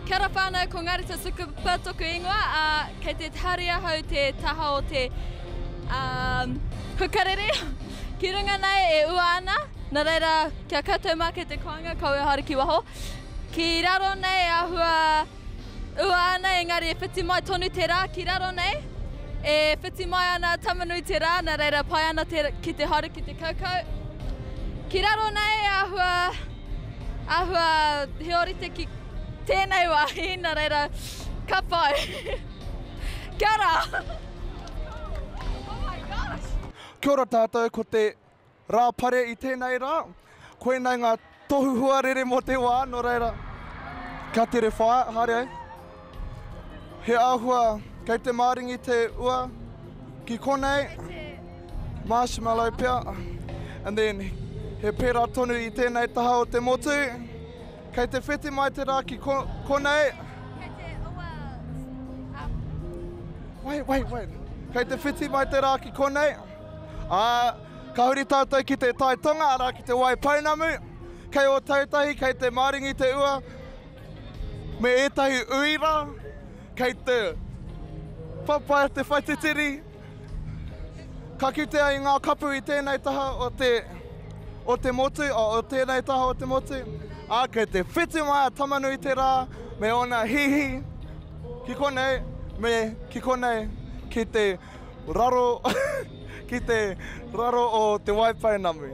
Kia ora whanau, ko Ngāri Tasukupa toku ingoa, a, kei te hari ahau te taha o te um, hukarere ki runga nei e ua ana, na reira kia koutou mā kei te koanga kaua haere ki waho. Ki raro nei e ahua ua ana engari e whiti mai tonu te rā ki raro nei, e whiti mai ana tamanui te rā, na reira pai ana te, ki te haere ki te kaukau. Ki raro nei e ahua Ahua he orite ki tenei wahi na reira ka pai. Kia ora! Oh my gosh! Kia ora tātou, ko te Rā Pare i tēnei rā. Koinei ngā tohu huarere mō te wā, nō reira, ka tere whaea, haere ai. He āhua kei te māringi te ua ki konei, marshmallow pea, and then he pērā tonu i tēnei taha o te motu. Kei te whiti mai te rā ki ko, konei. Kei te ua, um... Wait, wait, wait. Kei te whiti mai te rā ki konei. Ā, ka huri tātou ki te tai tonga, arā ki te Waipounamu. Kei Ōtautahi, kei te māringi te ua, Me ētahi uira kei te whawhai te whaititiri, ka kite ai ngā kapu i tēnei taha o te o te motu, o tēnei taha o te motu, ā, kei te whiti mai a Tamanui te rā me ōna hihi ki konei me ki konei ki te raro ki te raro o Te Waipounamu.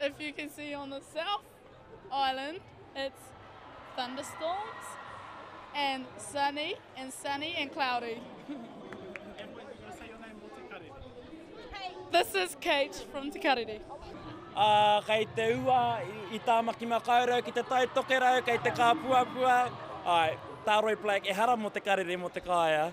If you can see on the south island it's thunderstorms and sunny and sunny and cloudy. and when you say your name Te Karere. This is Kate from Te Karere. Uh, kei te ua i Tāmaki Makaurau ki te tai tokerau, kei te kāpuapua. Ai, Tāroi Blake, ehara mō te karere, mō te kāea.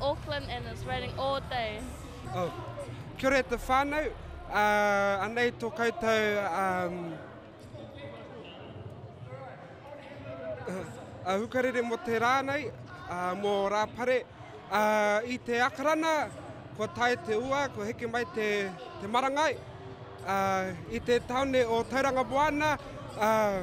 Auckland and it's raining all day. Oh. Kia ora e te whānau, uh, anei tō koutou um, uh, hukarere mō te rā nei, uh, mō Rāpare. Uh, I te akarana, ko tae te ua, ko heke mai te, te marangai. Uh, I te taone o Tauranga Moana, uh,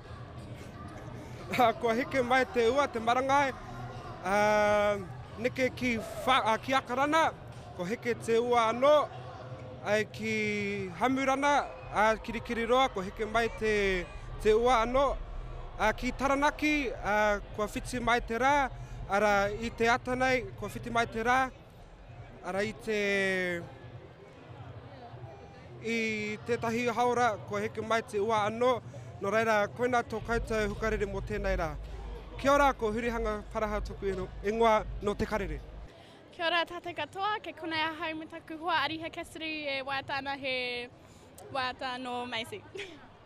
Kua heke mai te ua, te marangai, neke ki Akarana, kua heke te ua anō, ai ki Hamurana, Kirikiriroa, kua heke mai te ua anō. Ki Taranaki, kua whiti mai te rā, arā, i te ata nei, kua whiti mai te rā, arā, i te... I tētahi haora kua heke mai te ua anō, nō reira koinā tō koutou hukarere mō tēnei rā. Kia ora, ko Hurihanga Paraha toku ingoa, nō Te Karere. Kia ora tātou katoa, kei konei ahau me taku hoa Ariha Cassidy e waiata ana he waiata nō Macy.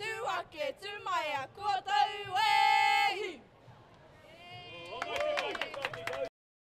Tū ake, tū maea, kua tau, wēhi!